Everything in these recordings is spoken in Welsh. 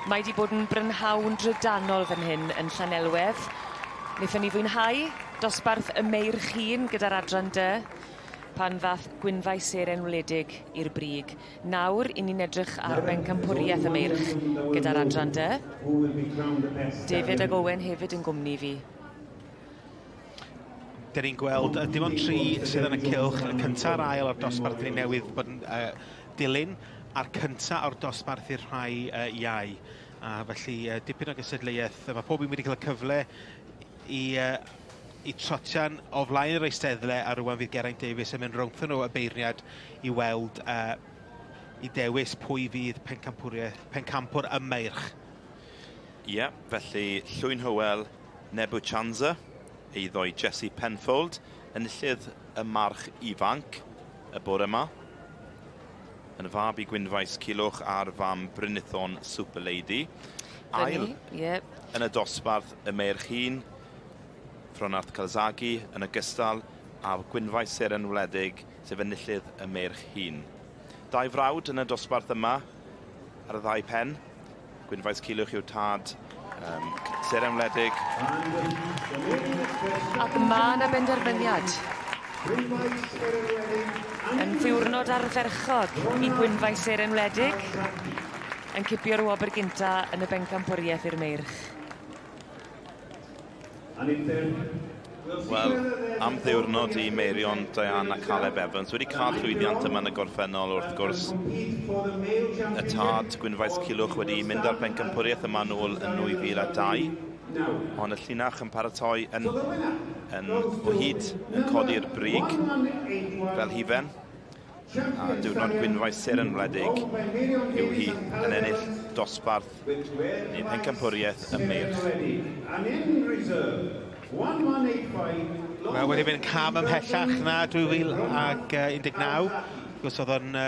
Mae wedi bod yn brynhawn drydanol fan hyn yn Llanelwedd. Wnaethon ni fwynhau dosbarth y Meir Chîn gyda'r Adran Dy pan ddath Gwynfaes Seren wledig i'r brig. Nawr, 'yn ni'n edrych ar bencampwriaeth y Meirch gyda'r adran dy. David ac Owen hefyd yn gwmni fi. Dyn ni'n gweld dim ond tri sydd yn y cylch, y cyntaf a'r ail o'r dosbarth ni newydd bod yn uh, dilyn, a'r cyntaf o'r dosbarth i'r rhai uh, iau. A felly uh, dipyn o gysedleiaeth, mae pob un wedi cael y cyfle i uh, y trotian o flaen yr eisteddle a rwan fydd Geraint Davies yn mynd rownddo nhw y beirniad i weld uh, i dewis pwy fydd pencampwriaeth, pencampwr y meirch. Ie, yeah, felly Llwyn Hywel Nebuchanza, eiddo i Jesse Penfold, enillydd y march ifanc y bore yma. Yn fab i Gwynfaes Cilwch a'r fam Brynithon Super Lady. Ail, yep. yn y dosbarth y meirch hun, Fronart Calzaghe yn ogystal â gwynfau seren wledig sef enillydd y meirch hŷn. Dau frawd yn y dosbarth yma ar y ddau pen. Gwynfaes Cilwch yw tad um, seren wledig. Ac mae yna benderfyniad yn ddiwrnod ardderchog i Gwynfau Seren Wledig yn cipio'r wobr gynta yn y bencampwriaeth i'r meirch. Wel, am ddiwrnod i Meirion, Diane a Caleb Evans. Wedi cael llwyddiant yma yn y gorffennol, wrth gwrs. Y tad, Gwynfaes Cilwch, wedi mynd ar bencampwriaeth yma nôl yn 2002. Ond y llinach yn paratoi yn, yn o hyd yn codi'r brig fel hifen. A diwrnod gwynfaesur yn wledig yw hi yn ennill dosbarth neu pencampwriaeth ym Meirch. Mae wedi mynd cam ymhellach na 2019. Wrth gwrs oedd o'n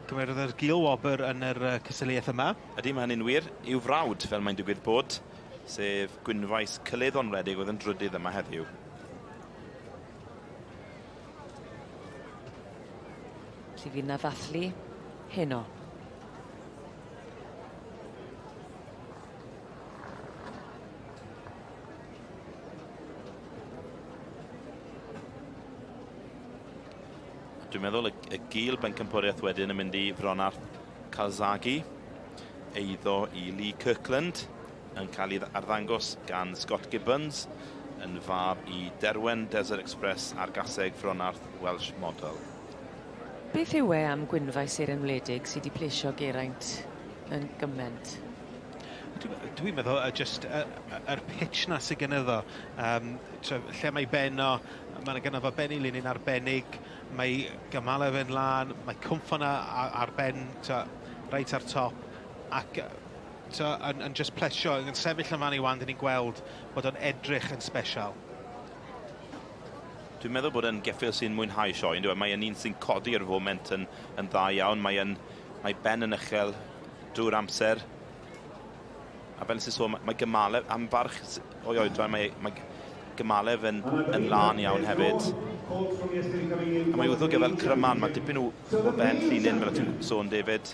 cymerodd yr gul wobr yn yr uh, cystadleuaeth yma. Ydy, mae hynny'n wir. I'w frawd, fel mae'n digwydd bod, sef Gwynfaes Cyllid Onwledig oedd yn drydydd yma heddiw. Felly fydd 'na ddathlu heno. Dwi'n meddwl y, y gil bencampwriaeth wedyn yn mynd i Fronarth Calzagi, eiddo i Lee Kirkland. yn cael ei arddangos gan Scott Gibbons yn fab i Derwen Desert Express a'r gaseg Fronarth Welsh Model. Beth yw e am gwynfau seren wledig sydd wedi plesio Geraint yn gyment? Dwi'n meddwl y jyst y, y, yr pitch na sydd gen iddo. Um, tra, lle mae ben o, mae yna gyda fo ben i linyn arbennig, mae gymalau fe'n lan, mae cwmffon ar ben tra, reit ar top, ac So, yn, yn just plesio, yn sefyll yn fan i wan, dyn ni'n gweld bod o'n edrych yn special. Dwi'n meddwl bod yn geffil sy'n mwynhau sioe, yn dweud. Mae yn un sy'n codi ar y foment yn, yn dda iawn. Mae, yn, mae Ben yn uchel drwy'r amser. A fel sy'n sôn, mae Gymalef, am farch o'i oedran, mae, mae Gymalef yn, yn lân iawn hefyd. A mae wrth o gyfel Cryman, mae dipyn o, o ben llinyn, fel y ti'n sôn, David.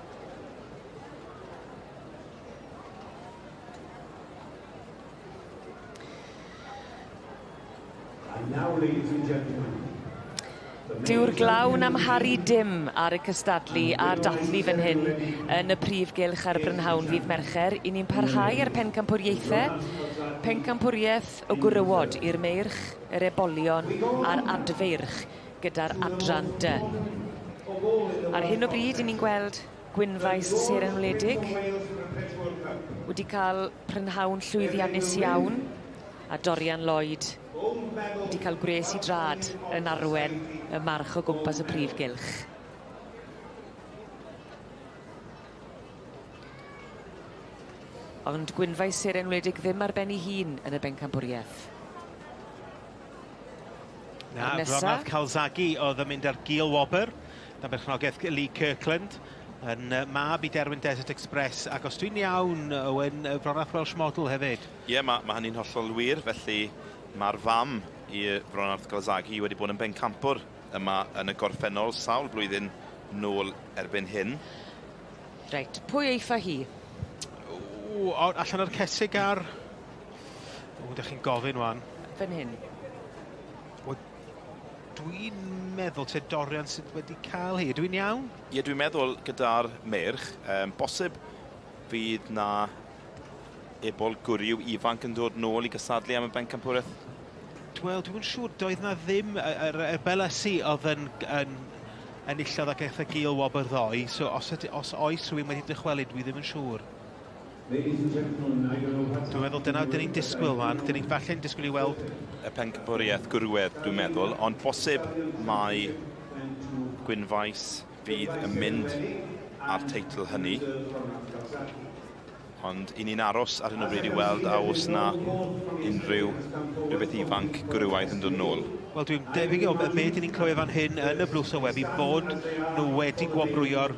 Dyw'r glaw yn amharu dim ar y cystadlu a'r dathlu fan hyn yn y prif gylch ar y brynhawn ddydd Mercher. I ni'n parhau â'r pencampwriaethe. Pencampwriaeth y gwrywod i'r meirch, yr ebolion a'r adfeirch. gyda'r adran dy. Ar hyn o bryd, i ni'n gweld Gwynfaes Seren Wledig wedi cael prynhawn llwyddiannus iawn, a Dorian Lloyd wedi cael gwres i drad yn arwen y march o gwmpas y prif gylch. Ond Gwynfaes Seren Wledig ddim ar ben ei hun yn y bencampwriaeth. Na, Ronald Calzaghe oedd yn mynd ar gil wobr. Na berchnogaeth Lee Kirkland yn mab i Derwyn Desert Express. Ac os dwi'n iawn, Owen, Fronach Welsh Model hefyd. Ie, yeah, mae, mae hynny'n hollol wir. Felly mae'r fam i Ronald Calzaghe wedi bod yn bencampwr yma yn y gorffennol sawl blwyddyn nôl erbyn hyn. Reit, pwy eitha hi? O, allan o'r cesig ar O, ydych chi'n gofyn wan. Fyn hyn. O, dwi'n meddwl te Dorian sydd wedi cael hi. Dwi'n iawn? Ie, dwi'n meddwl gyda'r merch, um, bosib bydd na ebol gwriw ifanc yn dod nôl i gysadlu am y bencampwraeth? Wel, dwi'n siŵr, doedd na ddim, yr er, er Belasi oedd yn, yn enillodd ac eithaf gil wobr ddoe, so os, os oes rhywun wedi dychwelyd, dwi ddim yn siŵr. Ladies and gentlemen, I don't know what's... Dwi'n meddwl dyna dyn ni'n disgwyl fan. Dyn ni'n falle'n disgwyl i weld... Y pencampwriaeth gwrywedd, dwi'n meddwl, ond posib mai Gwynfaes fydd yn mynd â'r teitl hynny. Ond i ni'n aros ar hyn o bryd i weld a oes na unrhyw rhywbeth ifanc gwrywaidd yn dod nôl. Wel, dwi'n debyg o be dyn ni'n clywed fan hyn yn y blwch sylwebu bod nhw wedi gwobrwyo'r